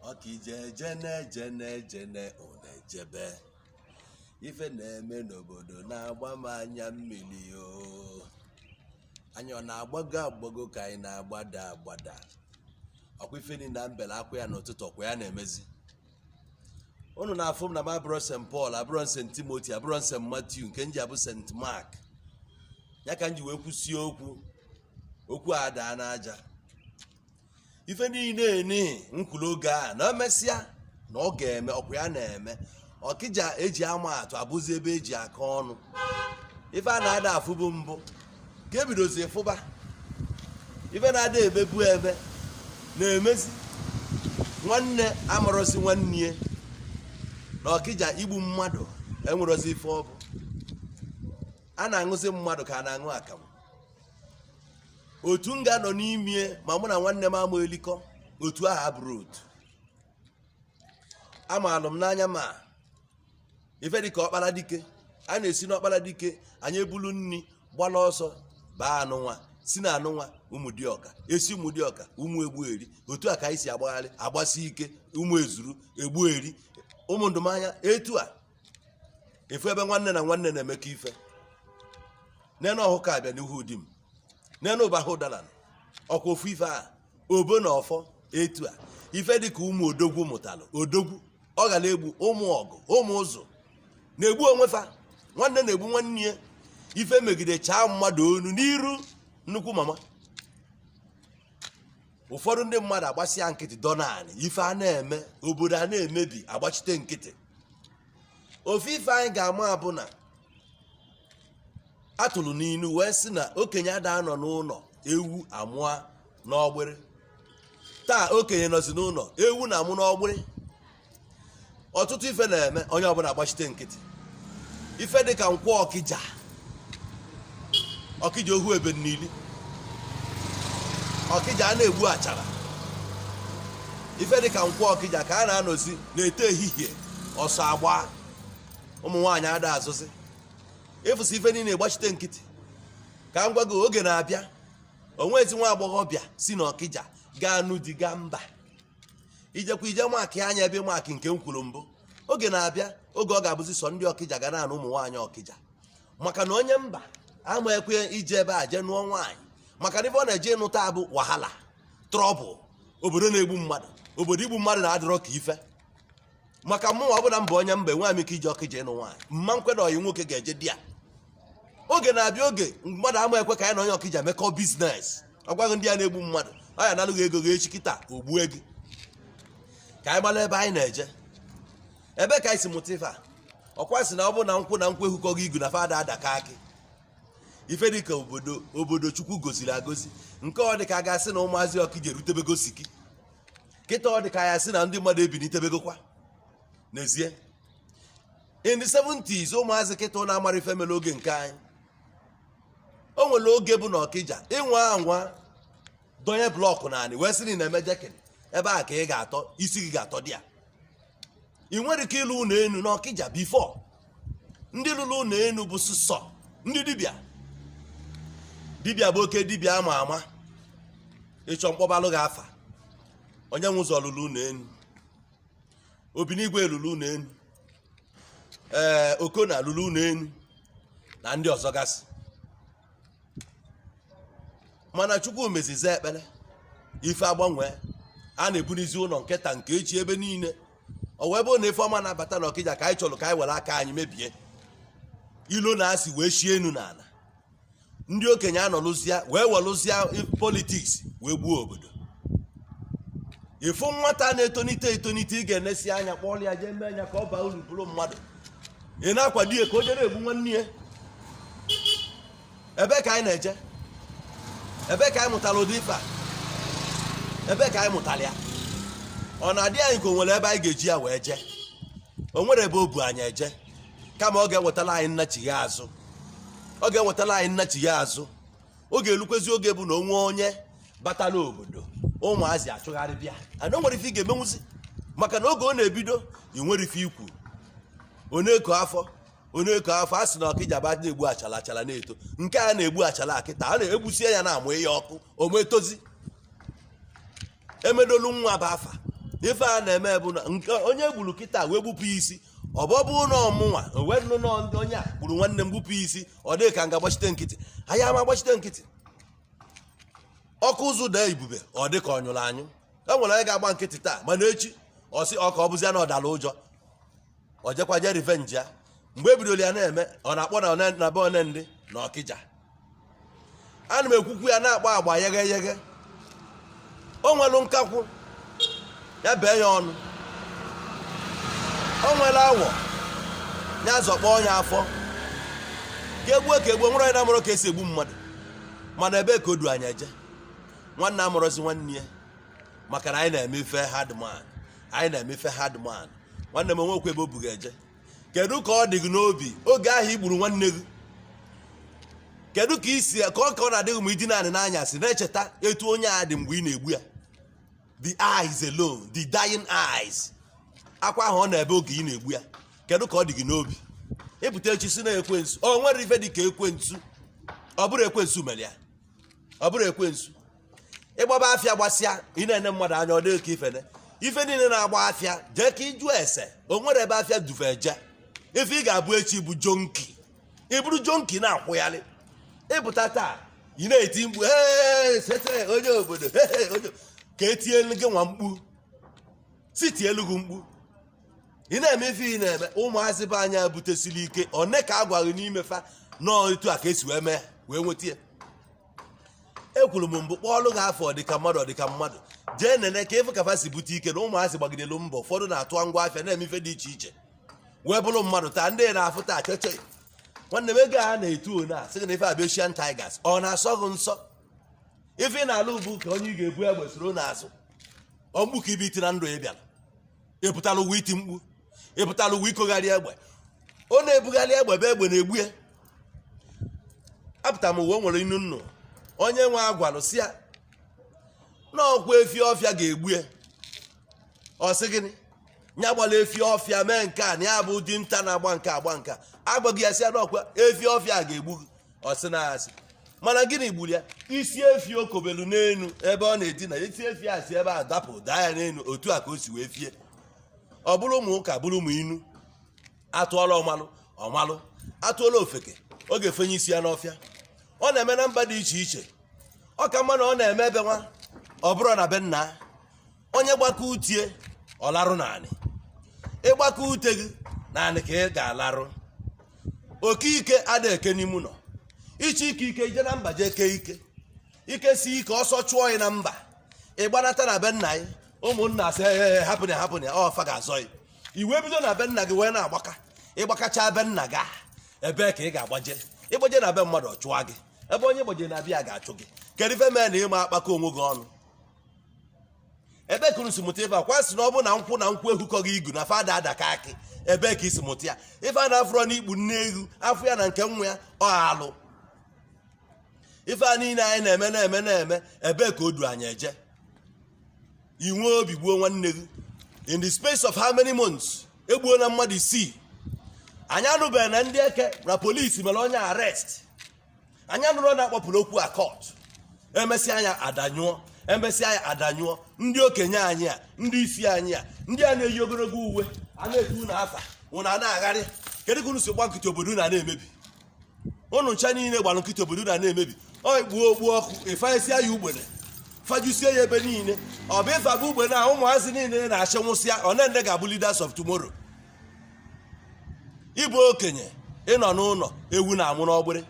ọkịja ejene ejene ejene unu ejebe ife na-eme n'obodo na-agba m anya mmiri o anyị ọ na-agbago agbago ka anyị na-agbada agbada ọkwa ife ni na m bele akwa ya n'ụtụtụ ọkwa ya na-emezi unu na-afụ m na m abụrọ st paul abụrọ st timothy abụrọ st matthew nke m ji abụ st mark ya ka m ji wee kwusie okwu okwu adaa n'aja ife niile ni m kwulu oge a na emesịa na ọ ga-eme ọkwa ya na-eme ọkịja eji ama atụ abụzi ebe eji akọ ọnụ ife a na-ada afụbu mbụ ka ebidozi fụba ife na-ada emebu eme na-emezi nwanne amarọzi nwanne ya na ọkịja igbu mmadụ enwerozi ife ọ bụ a na-aṅụzi mmadụ ka a na-aṅụ akamụ otu m ga-anọ n'ime ma mụ na nwanne m ama elikọ otu ahụ abụrọ otu amaalụ m n'anya ma ife dịka ọkpala dike a na-esi n'ọkpala dike anyị ebulu nni gbala ọsọ baa anụnwa si na anụnwa ụmụdiọka esi ụmụdiọka ụmụ egbueri etu a ka anyị si agbaghalị agbasi ike ụmụ ezuru egbueri ụmụ ndụmanya etu a ofu ebe nwanne na nwanne na-emekọ ife nene ohukabịa n'ihudim nene ụbahụdara ọkwa ofu ife a obo na ọfọ etu a ife dịka ụmụ odogwu mụtalụ odogwu ọghalegbu ụmụọgụ ụmụzụ na-egbu onwe fa nwanne na-egbu nwanne ya ife megide chaa mmadụ onu n'iru nnukwu mama ụfọdụ ndị mmadụ agbasịa nkịtị dọ naanị ife a na-eme obodo a na-emebi agbachite nkịtị ofu ife anyị ga-ama bụ na atụrụ n'inu wee sị na okenye ada anọ n'ụnọ ewu amụa n'ọgbịrị taa okenye nọzi n'ụnọ ewu na-amụ n'ọgbịrị ọtụtụ ife na-eme onye ọbụna agbachite nkịtị ife dị ka nkwọ ọkịja ọkịja ohu ebe n'ili ọkịja a na-egbu achara ife dị ka nkwọ ọkịja ka a na-anọzi na-eto ehihie ọsọ agba ụmụ nwaanyị ada azụzi ị fụsị ife niile gbachite nkịtị ka m gwa gị oge na-abịa onwezi nwa agbọghọbịa si n'ọkịja ga-anụ di gaa mba i jekwa ije maakị anya ebe maakị nke m kwuru mbụ oge na-abịa oge ọ ga-abụzi sọ ndị ọkịja ga na-anụ ụmụ nwaanyị ọkịja maka na onye mba ama ekwe ije ebe a jee nụọ nwaanyị maka na ife ọ na-eje ịnụta bụ wahala trouble obodo na-egbu mmadụ obodo igbu mmadụ na-adịrọ ka ife maka mụ ọ bụla mba onye mba enwe m ike ije ọkịja ịnụ nwaanyị mma nkweda ọyị nwoke ga-eje there oge na-abịa oge mmadụ ama ekwe ka ya na onye ọkịja mekọọ business ọ gwa gị ndị a na-egbu mmadụ ọ ya-analụ gị ego gị echi kịta o gbue gị ka anyị mara ebe anyị na-eje ebe ka anyị si mụta ife a ọ kwa a sị na ọ bụrụ na nkwụ na nkwụ ehukọghị igu na fa ada adakọ akị ife dị ka obodo obodo chukwu goziri agozi nke ọ dị ka a ga-asị na ụmụazị ọkịja erutebego siki kịta ọ dị ka a ya-asị na ndị mmadụ ebinitebegokwa n'ezie in the 70s ụmụazị kịta na amara ife mere oge nke anyị o nwere oge bụ na ọkịja ị nwa anwa donye block n'anị wee sị na ị na-eme decking ebe a ka ị ga-atọ isi gị ga-atọ there i nwerọ ike ịlụ ụnọ enu n'ọkịja before ndị lụlụ ụnọ enu bụ sụsọ ndị dibịa dibịa bụ oke dibịa ama ama ị chọọ m kpọbalụ gị afa onye nwe ụzọ lụlụ ụnọ enu obinigwe lụlụ ụnọ enu ee okona lụlụ ụnọ enu na ndị ọzọ gasị mana chukwu mezizi ekpere ife agbanwee a na-ebunizi ụnọ nke taa nke echi ebe niile ọ wee bụrụ na ife ọma na-abata na ọkịja ka anyị chọrọ ka anyị were aka anyị mebie ilo na asị wee shie enu na ana ndị okenye anọlụzia wee welụzia politics wee gbuo obodo ị fụ nwata na-etonite etonite ị ga-enesi anya kpọrọ ya jee mee anya ka ọ baa uru bụrụ mmadụ ị na-akwado ya ka o jere egbu nwanne ya ebe ka anyị na-eje ebe ka anyị mụtara ụdị ife a ebe ka anyị mụtara ya ọ na-adị anyị ka o nwere ebe anyị ga-eji ya wee jee o nwerọ ebe o bu anyị eje kama ọ ga-ewetara anyị nnachigha azụ ọ ga-ewetara anyị nnachigha azụ ọ ga-elukwazi oge bụ na o nwe onye batala obodo ụmụazị achụgharịba ya and o nwerọ ife ị ga-emenwuzi maka na oge ọ na-ebido i nwerọ ife i kwu onye ko afọ onye ko afọ a sị na ọkịja ba na-egbu achala achala na-eto nke a na-egbu achala kịta a na-egbusie ya na-amụnye ọkụ ọ ma etozi emedolu nwa bụ afa ife a na-eme bụ na nke onye gburu kịta wee gbupụ isi ọ bụ ọbụ na mụ nwa wee nụ na onye a gburu nwanne m gbupụ isi ọ dị ka m ga-agbachite nkịtị anyị ama gbachite nkịtị ọkụ ụzụ daa ibube ọ dị ka ọ nyụrụ anyụ e nwere onye ga-agba nkịtị taa mana echi ọ sị ọ ka ọ bụzia na ọ dara ụjọ ọ jekwa je revenge ya mgbe e bidoro ya na-eme ọ na-akpọ na one- na be one ndị na ọkịja ana m ekwukwu ya na-akpọ agba yeghe yeghe o nwere nkakwụ ya bee ya ọnụ o nwere awọ ya zọkpọ ya afọ ka egbuo ka egbuo o nwere onye na-amụrọ ka esi egbu mmadụ mana ebee ka o du anyị eje nwanne amarọzi nwanne ya maka na anyị na-eme ife hardman anyị na-eme ife hardman nwanne m o nwekwa ebe o bu gị eje kedu ka ọ dị gị n'obi oge ahụ i gburu nwanne gị kedu ka i si ka ọ ka ọ na-adị gị ma i dina anị n'anyasị na-echeta etu onye a dị mgbe ị na-egbu ya the eyes alone the dying eyes akwa ahụ ọ na-ebe oge ị na-egbu ya kedu ka ọ dị gị n'obi ị pụta echi sị na ekwensu o nwere ife dị ka ekwensu ọ bụrụ ekwensu mere ya ọ bụrụ ekwensu ịgbaba afịa gbasịa ị na-ene mmadụ anya ọ dị gị ka ifene ife niile na-agba afịa jee ka ịjụ ese o nwere ebe afịa du fa eje ife ị ga-abụ echi bụ jonki ị bụrụ jonki na-akwụgharị ị pụta taa ị na-eti mkpu "Ee, sese onye obodo ee, onye-" ka etielu gị nwa mkpu si tielu gị mkpu ị na-eme ife ị na-eme ụmụazị be anyị butesiri ike one ka a gwaghị n'ime fa nọọ etu a ka esi wee mee wee nweta ya ekwuru m mbụ kpọọlụ gị afa ọdịka mmadụ ọdịka mmadụ jee nene ka ị fụ ka fa si bute ike na ụmụazị gbagidelu mbọ ụfọdụ na-atụ ngwa afịa na-eme ife dị iche iche wee bụrụ mmadụ taa ndị ị na-afụ taa chọchọị nwanne m ego a na-etu ọnụ a sị gị na ife a bụ Asian Tigers ọ na-asọ gị nsọ ife ị na-alụ bụ ka onye ị ga-ebu egbe soro n'azụ ọ mkpu ka ị bịa iti na ndụ ya bịara ịpụtara ụwa iti mkpu ịpụtara ụwa ikogharị egbe ọ na-ebugharị egbe bụ egbe na-egbu ya apụta n'ụwa o nwere inu nnụ onye nwe a gwalụ sị ya na ọkwa efi ọfịa ga-egbu ya ọ sị gịnị ya gbala efi ọfịa mee nke a na ya bụ dinta na-agba nke a gba nke a a gwa ya sị ya na ọkwa efi ọfịa a ga-egbu gị ọ sị na asị mana gịnị gburu ya isi efi o kobelu n'enu ebe ọ na-edina isi efi a si ebe a dapụ daa ya n'enu otu a ka o si wee fie ọ bụrụ mụ ụka bụrụ mụ inu atụọla ọmalụ ọ malụ atụọla ofeke ọ ga-efenye isi ya n'ọfịa ọ na-eme na mba dị iche iche ọ ka mma na ọ na-eme ebe nwa ọ bụrụ na be nna onye gbaka ute ya ọ larụ n'anị ị gbaka ute gị n'anị ka ị ga-alarụ oke ike ada eke n'ime ụlọ ị chọ ike ike i je na mba jee kee ike ike si ike ọsọ chụọ ya na mba ọ gbanata na be nna ya ụmụnna asị ee hapụ ya hapụ ya ọ fa ga-azọ ya i wee bido na be nna gị wee na-agbaka ịgbakacha be nna gị ahụ, ebee ka ị ga-agbaje ịgbaje na be mmadụ ọ chụwa gị ebe onye gbaje na-abịa ga-achụ gị kedu ife mee na ịma akpakọ onwe gị ọnụ ebe ka unu si mụta ife a kwa sị na ọ bụ na nkwụ na nkwụ ehukọghị igu na fada adaka akị ebe ka i si mụta ya ife a na-afụrọ n'ikpu nne ewu a fụ ya na nke nwa ya ọ alụ ife a niile anyị na-eme na-eme na-eme ebe ka o du anyị eje i nwee obi gbuo nwanne gị in the space of how many months egbuona mmadụ isii anyị anụbeghị na ndị eke na polisi mere onye arrest anyị anụrọ na a kpọpụrụ okwu a court emesịa anya adanyụọ emesịa anya adanyụọ ndị okenye anyị a ndị isi anyị a ndị a na-eyi ogologo uwe a na-etu unu afa unu a na-agharị kedu ka unu si gba nkịtị obodo na na-emebi unu ncha niile gbara nkịtị obodo na na-emebi ọ kpuo okpu ọkụ ị fanyesịa ya ugbene fajusie ya ebe niile ọ bụ ị faba ugbene a ụmụazị niile na-achị nwụsịa one nde ga-abụ leaders of tomorrow ị bụ okenye ị nọ n'ụnọ ewu na-amụ n'ọgbịrị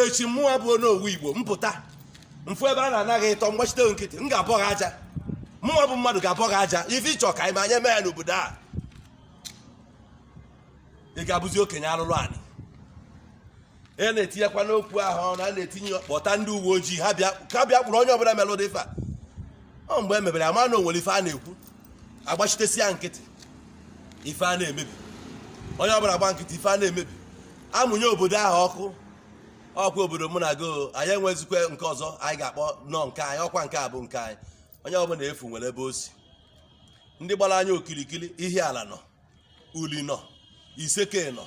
echi mụwa bụ Onowu Igbo m pụta m fụ ebe a na-anaghị ịtọ m gbachite nkịtị m ga-abọ gị aja mụwa bụ mmadụ ga-abọ gị aja ife ị chọ ka anyị me anyị emee ya n'obodo a ị ga-abụzi okenye alụlụ anị e na-etinyekwa n'okwu ahụ ọnụ a na-etinye kpọta ndị uwe ojii ha bịa ka bịa kpụrụ onye ọbụla melụ ụdị ife a ọ mgbe e mebere a ma na o nwere ife a na-ekwu a gbachitesie ya nkịtị ife a na-emebi onye ọbụla gba nkịtị ife a na-emebi a mụnye obodo ahụ ọkụ ọkwa obodo mụ na gị anyị enwezikwa nke ọzọ anyị ga-akpọnụ nke anyị ọkwa nke a bụ nke anyị onye ọbụla ị fụ nwere ebe o si ndị gbara anyị okilikili Ihiala nọ Uli nọ Iseke nọ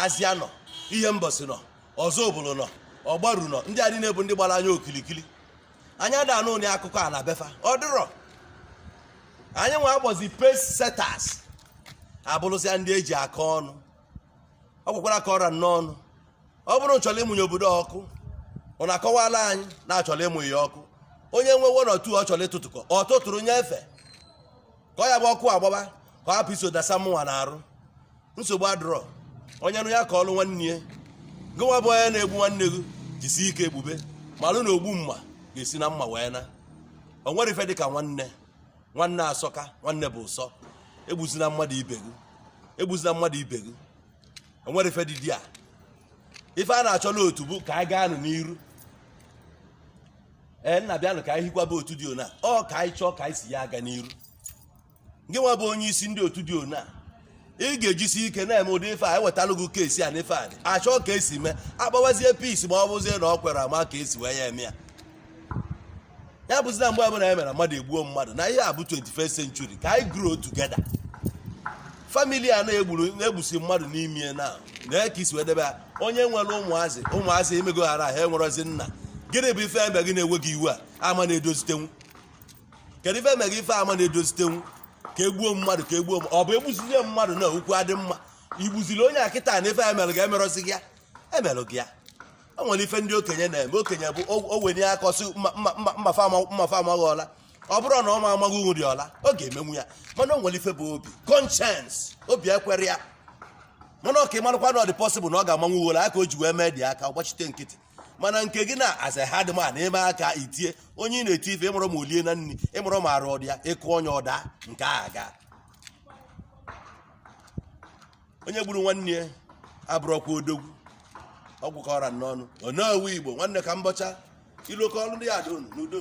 Azịa nọ Ihembọsị nọ Ọzụbụlụ nọ Ọgbaru nọ ndị a niine bụ ndị gbara anyị okilikili anyị ada anụ ụdị akụkọ a na be fa ọ dịrọ anyị nwa a kpọzi pace setters abụrụzịa ndị e ji aka ọnụ ọ gwakwara ka ọra n'ọnụ ọ bụrụ unu chọrọ ịmụnye obodo ọkụ unu akọwala anyị na a chọrọ ịmụ ya ọkụ onye nwe one or two ọ chọrọ ịtụtụkọ ọ tụtụrụ nyefe ka ọ ya-abụ ọkụ a gbaba ka ọ hapụ iso dasa mụnwa n'arụ nsogbu adụrọ onye nụ ya kọọlụ nwanne ya gị nwa bụ onye na-egbu nwanne gị jisi ike egbube malụ na ogbu mma ga-esi na mma wee na o nwere ife dị ka nwanne nwanne asọka nwanne bụ ụsọ egbuzina mmadụ ibe gị egbuzina mmadụ ibe gị o nwere ife dị di a ife a na-achọla otu bụ ka a gaanụ n'iru ee nna bịanụ ka anyị hikwaba otu dị ona ọ ka anyị chọọ ka anyị si ya aga n'iru gị nwa bụ onye isi ndị otu dị ona ị ga-ejisi ike na-eme ụdị ife a e wetalụ gị case a n'ife anyị achọọ ka e si mee a kpawazie peace ma ọ bụzie na ọ kwere a ma ka e si wee ya eme ya ya abụzina mgbe ọbụla ya mere mmadụ egbuo mmadụ na ihe a bụ 21st century ka anyị grow together family a na-egburu na-egbusi mmadụ n'ime na na ka i si wee debe ya onye nwere ụmụazị ụmụazị emegoghara ha enwerọzi nna gịnị bụ ife eme gị na-enweghị iwu a ama na-edozitenwu kedu ife eme gị ife ama na-edozitenwu ka e gbuo mmadụ ka e gbuo ọ bụ e gbuzizie mmadụ na okwu adị mma i gbuziri onye a kịta na ife e melụ gị e merọzi gị ya e melụ gị ya o nwere ife ndị okenye na-eme okenye bụ o wenye aka ọ sị mmafa ama gị ọla ọ bụrụ na ọ ma ama gị uri ọla ọ ga-emenwu ya mana o nwere ife bụ obi conscience obi ekwerọ ya mana ọ ka ị marakwa na ọ dị possible na ọ ga-amanwu uwe aka o ji wee mee dị aka gbachite nkịtị mana nke gị na as a hard man eme aka i tie onye ị na-eti ife ị marọ ma o liena nri ị marọ ma arụ ọ dị ya ị kụọ onye ọ daa nke a ga onye gburu nwanne ya abụrọkwa odogwu ọ gwụ ka ọ ra n'ọnụ ọ na-ewu igbo nwanne ka mbọcha ilokọ ọrụ ndị ya dị unu n'udo